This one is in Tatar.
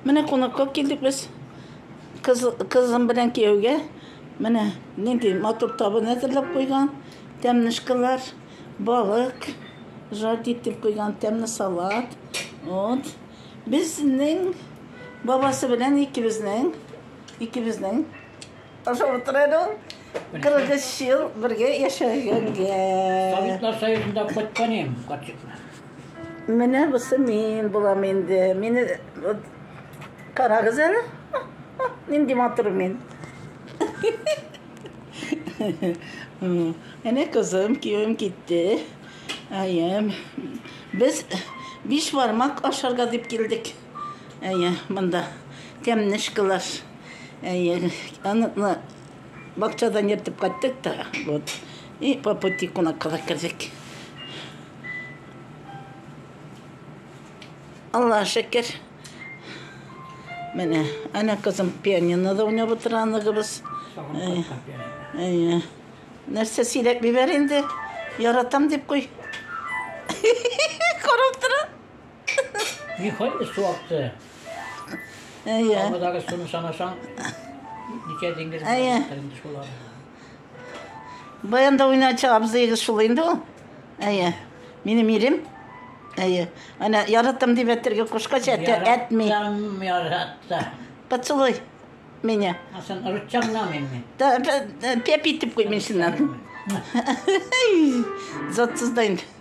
Менә кунакка килдек без. Кыз, кызым белән кияүгә. Менә нинди матур табын әзерләп куйган. Тәмнешкалар, балык, жарить итеп куйган тәмле салат. Вот. Безнең бабасы белән икебезнең, икебезнең Ошо утырырың, кыргыз ел бергә яшәгәнгә. Табиблар союзында кайткан идем, катчыкны. Менә бусы мин булам инде. Мине карагыз әле. Нинди матур мин. Әнә кызым, кием китте. Әйем. Без биш бармак ашарга дип килдек. Әйе, монда тәмле школас. Әйе, аны бакчадан ертып кайттык та, вот. И по пути кунакка да кердек. Алла шәкер. Менә, әнә кызым пианинода уйнап утыра аныгыбыз. Әйе. Нәрсә сөйләп бибәр инде? Яратам дип куй. Карап тора. Нихәйле су акты. Әйе. Кабадагы суны санасаң, ничә диңгез Әйе. булган инде шулар. Баянда уйначы абзыегыз шул инде ул. Әйе. Минем ирем. Әйе. Ана яратам дип әтергә кушкач, әтә әтми. Яраттам, яратта. Поцелуй меня. А сен рычаг на мене. Да, пеп итеп куй мен шуннан. Затсыз да инде.